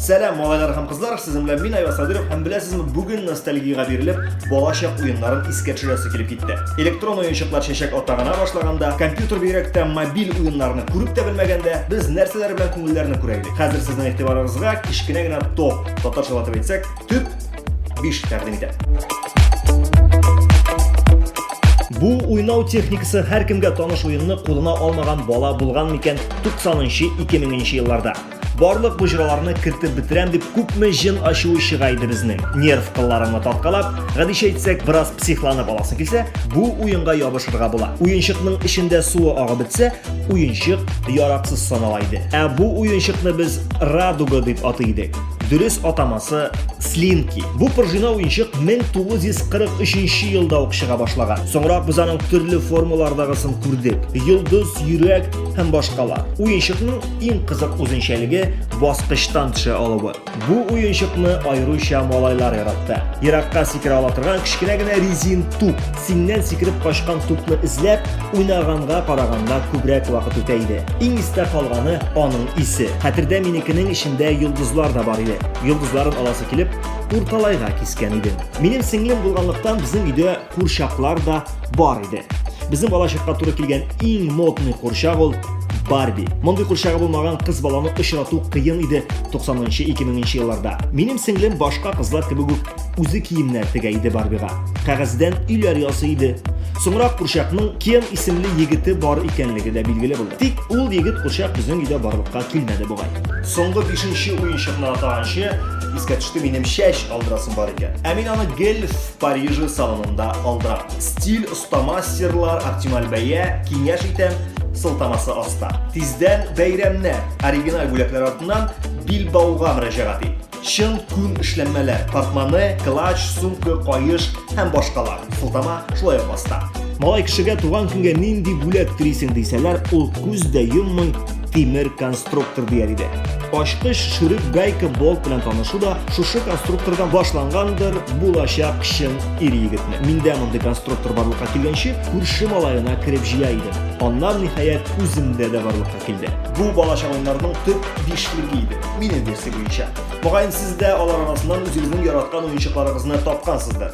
Сәлам, малайлар һәм кызлар, сезнең белән мин Айваз Садыров һәм беләсезме, бүген ностальгиягә бирелеп, балачак уеннарын искә төшерәсе килеп китте. Электрон уенчыклар чәчәк ата гына башлаганда, компьютер бигрәк тә мобиль уеннарны күреп тә белмәгәндә, без нәрсәләр белән күңелләрне күрә идек. Хәзер сезнең игътибарыгызга кечкенә генә топ, татарча латып әйтсәк, төп 5 тәкъдим итә. Бу уйнау техникасы һәркемгә таныш уенны кулына алмаган бала булган микән 90-нчы 2000-нче елларда. Барлык бу җыраларны кертеп бетерәм дип күпме җен ачуы чыга иде безнең. Нерв кылларыңны тарткалап, гадичә әйтсәк, бераз психланып аласың килсә, бу уенга ябышырга була. Уенчыкның эчендә суы агып бетсә, уенчык яраксыз санала иде. Ә бу уенчыкны без радуга дип атый идек. Дөрес атамасы Слинки. Бу пружина уенчык 1943 елда ук чыга башлаган. Соңрак без аның төрле формалардагысын күрдек. Йолдыз, йөрәк һәм башкалар. Уенчыкның Иң кызык үзенчәлеге баскычтан төшә алуы. Бу уенчыкны аеруча малайлар яратты. Еракка сикерә ала торган кечкенә генә резин туп. Синнән сикереп качкан тупны эзләп, уйнаганга караганда күбрәк вакыт үтә иде. Иң истә калганы аның исе. Хәтердә минекенең эчендә йолдызлар да бар иде. Йолдызларын аласы килеп, урталайга кискән идем. Минем сеңлем булганлыктан безнең өйдә Курчаклар да бар иде. Безнең балачакка туры килгән иң модный курчак ул Барби. Мондый курчагы булмаган кыз баланы очрату кыен иде 90-2000 елларда. Минем сеңлем башка кызлар кебек үк үзе киемнәр тегә иде Барбига. Кәгазьдән өйләр ясый иде. Соңрак курчакның Кен исемле егете бар икәнлеге дә билгеле булды. Тик ул егет курчак безнең өйдә барлыкка килмәде бугай. Соңгы 5нче уенчыкны атаганчы искә төште минем чәч алдырасым бар икән. Ә мин аны гел Парижы салонында алдыра. Стиль, остама, серлар, оптималь бәя, киңәш итәм, сылтамасы аста. Тиздән бәйрәмнә оригиналь бүләкләр артыннан билбауга мөрәҗәгать ит. Чын күн эшләнмәләр, портмоне, клач, сумка, каеш һәм башкалар. Сылтама шулай ук аста. Малай кешегә туган көнгә нинди бүләк телисең дисәләр, ул күз дә йоммый, тимер конструктор дияр иде. Ачкыч, шүрек, гайка, болт белән танышу да шушы конструктордан башлангандыр булачак чын ир егетне. Миндә мондый конструктор барлыкка килгәнче, күрше малаена кереп җыя идем. Аннан ниһаять үземдә дә барлыкка килде. Бу балачак уеннарның төп бишлеге иде. Минем версия буенча. Мөгаен сез дә алар арасыннан үзегезнең яраткан уенчыкларыгызны тапкансыздыр.